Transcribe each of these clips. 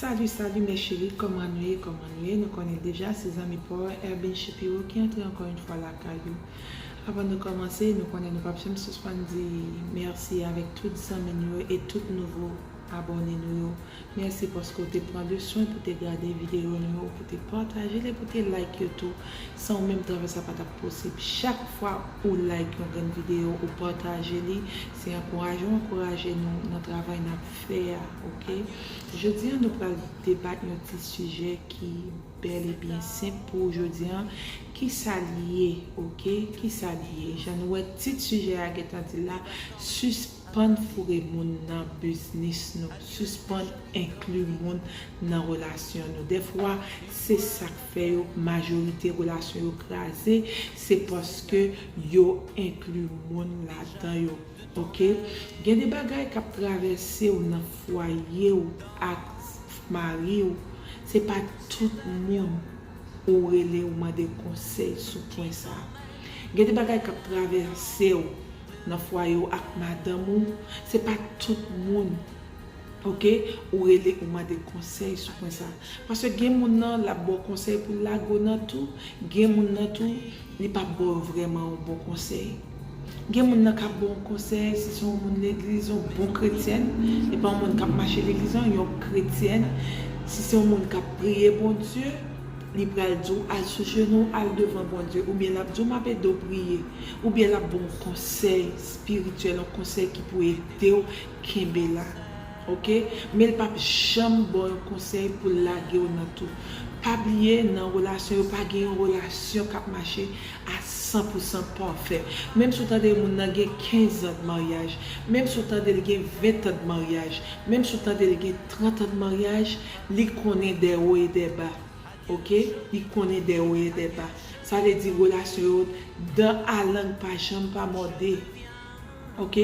Salut salut mes cheris koman nou ye koman nou ye nou konnen deja se zanmi paw Erbin Shapiro ki antre ankò yn fwa lakay ou avan nou komanse nou konnen nou pap janm sispann di merci avek tout zanmi nou yo e tout nouvo abòne nou yo merci paske ou te pran le swen pou te gade video nou yo pou te patajel e pou te like yo tou san ou menm travay sa patap posib chak fwa ou like yon grenn video ou pataje li se ankouraje ou ankouraje nou nan travay nap fè a ok jodi an nou pral debat yon ti sijè ki bèl e byen senp pou ou jodi an kisa l ye ok kisa l ye jan nou wè tit sijè a gentan di l la sispann foure moun nan biznis nou sispann enkli moun nan relasyon nou dèfwa se sak fè yo majorite relasyon yo kraze se paske yo enkli moun ladan yo. Ok gen de bagay kap travèsew nan fwayew ak mariw se pa tout moun ou rele ou mande konsèy sou pwen sa gen de bagay kap travèsew nan fwayew ak madanm ou se pa tout moun Ok ou rele ou mande konsey sou pwen sa. Paske gen moun nan lap baw konsey poul lage w nan tou gen moun nan tou li pap baw yon vreman yon bon konsey. Gen moun nan kap baw yon konsey si se yon moun legliz yon bon kretyèn epa yon moun kap mache legliz nan yon kretyèn si se yon moun kap priye Bondye li pral diw al sou jenou w al devan Bondye oubyen lap diw map edew priye oubyen lap baw yon konsey spirityèl yon konsey ki pou edew Kenbe la ok men l pap janm baw yon konsèy poul lagew nan tou pa bliye nan relasyon yo pa gen yon relasyon kap mache a san pou san pafè menm si w tande moun nan gen 15 zan de maryaj menm si w tande l gen 20 tan de maryaj menm si w tande l gen 30 an de maryaj li konnen dè wo e dè ba ok li konnen dè wo e dè ba sa vle di relasyon yo dan a lang pa janm pa mòde. Ok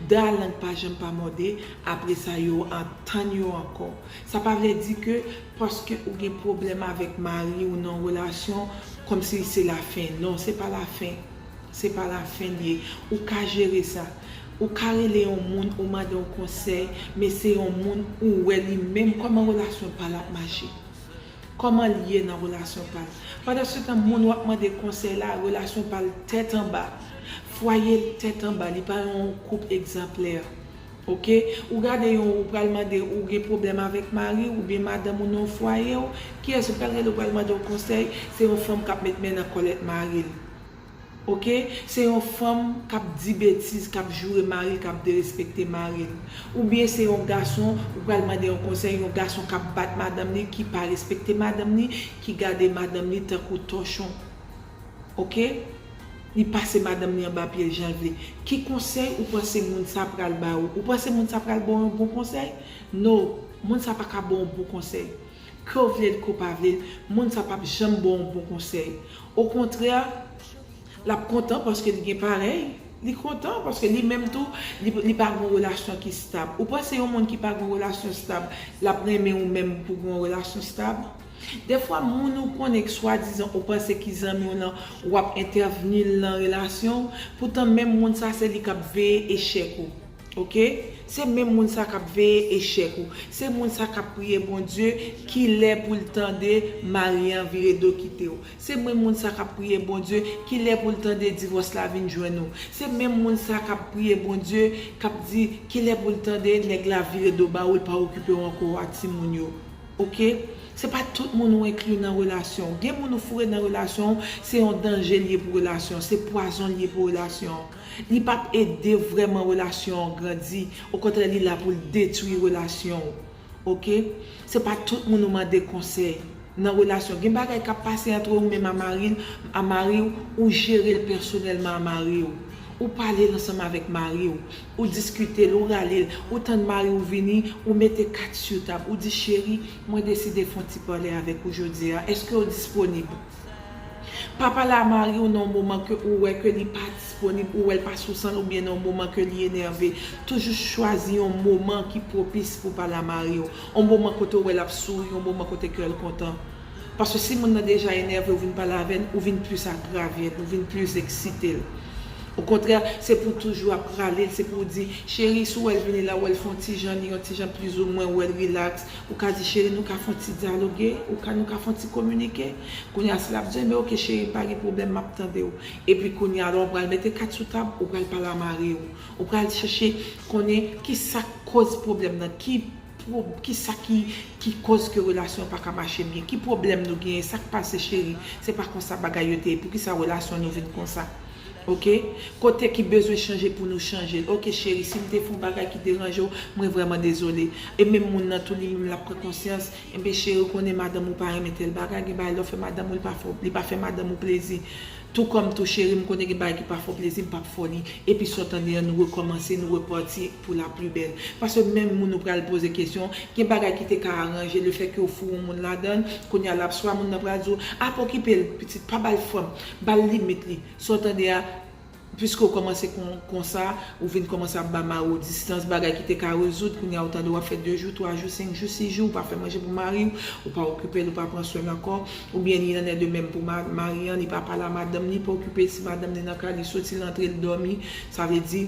daa lang pa janm pa mòde apresa yo an tann yo ankò sa pa vle di ke paske ou gen pwoblèm avèk mariw nan yon relasyon kòmsi se la fen non se pa la fen se pa la fen liye ou ka jere sa ou ka rele yon moun ou mande yon konsèy men se yon moun ou wè li menm kòman relasyon pal ap mache. Koman l ye nan relasyon pa l. Pandan se tan moun wap mande konsèy la relasyon pa l tèt anba, fwaye l tèt anba li pa yon koup egzanplè ok ou gade yon ou pral mande ou gen pwoblèm avèk mariw oubyen madanm ou nan fwayew kiyès ou pral rele ou pral mande w konsèy se yon fanm kap met men nan kòlèt maril Ok se yon fanm kap di betiz kap joure maril kap derespekte maril oubyen se yon gason ou pral mande yon konsèy yon gason kap bat madanm li ki pa respekte madanm li ki gade madanm li tankou tòchon ok li pase madanm li anba pyel janl vle ki konsèy ou panse moun sa pral ba ou ou panse moun sa pral baw yon bon konsèy no moun sa paka baw bon konsèy. Kew vlel kew pa vlel moun sa pap janm baw yon bon konsèy o kontrè lap kontan paske li gen parèy li kontan paske li menm tou li pa gen yon relasyon ki stab ou panse yon moun ki pa gen yon relasyon stab lap renmen ou menm pou gen yon relasyon stab dèfwa moun ou konnen k swadizan ou panse ki zanmiw lan wap entèvnil nan relasyonw poutan menm moun sa se li kap veye echèk ou. Ok se menm moun sa kap veye echèk ou se moun sa kap priye Bondye kilè poul tande mari an vire do kitew se menm moun sa kap priye Bondye kilè poul tande divòs la vin jwenn ou se menm moun sa kap priye Bondye kap di kilè poul tande nèg la vire do bawoul pa okipew ankò wa timoun yo ok se pa tout moun ou enkli nan relasyonw gen moun ou foure nan relasyonw se yon danjel ye pou relasyonw se pwazonl ye pou relasyonw. Li pap ede vrèman relasyon an grandi, okontrè li la poul detwi relasyon w ok, se pa tout moun ou mande konsèy nan relasyon, gen bagay kap pase antre ou menm a mari l a mari w ou jere l pèsonèlman a mari w, ou pale l ansanm avèk mari w, ou diskite l ou rale l, ou tann mari w vini ou mete kat su tab ou di cheri mwen deside fon ti pale avèk ou jodia èske w disponib. Papa la mariw nan yon moman ke ou wè ke li pa disponib, ou wèl pa sou sanl ou byen nan yon moman ke li enève. Toujou chwazi yon moman ki pwopis pou pa la mariw. Yon moman kote ou wè lap souri, yon moman kote kèl kontan. Paske si moun nan deja enève ou vin pale avèl, ou vin plis agravye, ou vin plis eksitel. Okontrè, se pou toujou ap ralel, se pou ou di, cheri si w wèl vini la, ou wèl fon ti jan li, yon ti jan plizoumwen, ou wèl rilaks, Ou ka di cheri nou ka fon ti dyaloge ou ka nou ka fon ti kominike kounya si lap di men ok cheri pa gen pwoblèm map tandew epi kounya la ou pral mete kat sou tab ou pral pale a mariw ou pral chèche konnen kisak koz pwoblèm nan ki kisa ki ki koz ke relasyon an paka mache byen ki pwoblèm nou genyen sak pase cheri se pa konsa bagay yo te ye poukisa relasyon nou vin konsa. ok kote ki bezwen chanje pou nou chanjel ok cheri sim te fon bagay ki deranjew mwen vrèman dezole e menm moun nan tou li menm lap pran konsyans enben cheri ou konnen madanm ou pa renmen tèl bagay gen bagay lèw fè madanm ou li pa fè madanm ou plezi tou kòm tou cheri m konnen gen bagay ki pa fè w plezi m pap fè w li epi sa w tande an nou rekòmanse nou repati pou la pli bèl paske menm moun ou pral poze kesyon gen bagay ki te ka aranje lefètke ou foure yon moun ladann kounya lap swa moun nan pral di w ap okipe l pitit pa bal fanm Bal limit li. Sa w tande a, piske w kòmanse konsa, ou vin kòmanse ap ba mari w distans, bagay ki te ka rezoud, kounye a ou tande w ap fè 2 jou, 3 jou, 5 jou, 6 jou ou pa fè manje pou mari w, ou pa okipe l, ou pa pran swen l ankò, oubyen li annè de menm pou mari an, li pa pale a madanm li, pa okipe l si madanm li nan kay li soti l antre l dòmi, sa vle di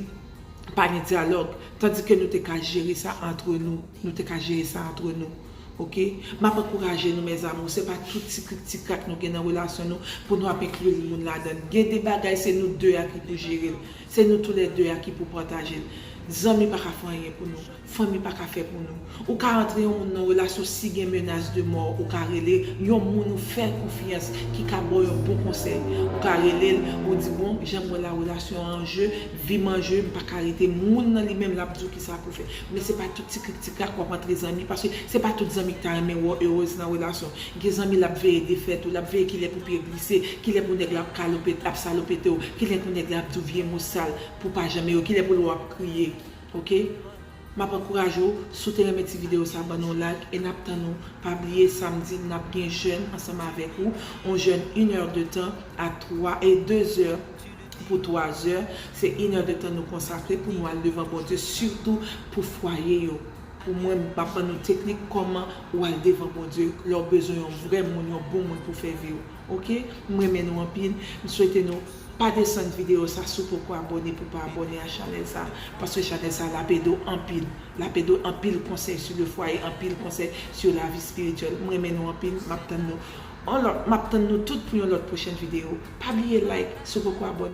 pa gen dyalòg, tandike nou te ka jere sa antre nou, nou te ka jere sa antre nou. Ok map ankouraje nou mes amour se pa tout ti krik ti krak nou gen nan relasyon nou pou nou ap inclure moun ladann gen de bagay se nou 2 a ki pou jerel se nou tou lè 2 a ki pou patajel zanmi paka fè anyen pou nou fanmi paka fè pou nou ou ka antre yon moun nan relasyon si gen menas de mò ou ka rele yon moun ou fèl konfyans ki ka baw yon bon konsèy ou ka relel ou di bon janm wè la relasyon an anje vim anje m paka rete moun nan li menm lap diw kisa pou fè. Men se pa tout ti krik ti krak wap antre zanmi paske se pa tout zanmi ki ta renmen wè w heureuse nan relasyon. Gen zanmi lap veye defèt ou, lap veye kilè pou pye glise, kilè pou nèg la ap kalope, ap salopete w, kilè pou nèg la ap di w vye mo sal pou w pa janm ere w, kilè pou l wè w ap kriye. Ok Map ankouraje w, si w te renmen ti video sa ban nou yon like e nap tann ou, pa bliye samdi nap gen jèn ansanm avèk ou, yon jèn 1 heure de tan a 3 e 2 heures. pou twa zè, se yn èr de tan nou konsakre pou nou al devan Bondye sitou pou fwaye yo, pou mwen m ap ban nou teknik kòman ou al devan Bondye lè w bezwen yon vrè moun yon bon moun pou fè vi w ok m renmen nou anpil m swete nou pa desann video sa si w poko abòne pou w pa abòne a chanèl sa paske chanèl sa lap ede w anpil lap ede w anpil konsèy su le fwaye anpil konsèy su lavi spirityèl m renmen nou anpil map tann nou. An lòt map tann nou tout pou yon lòt pwochèn video pa bliye like si w poko abone.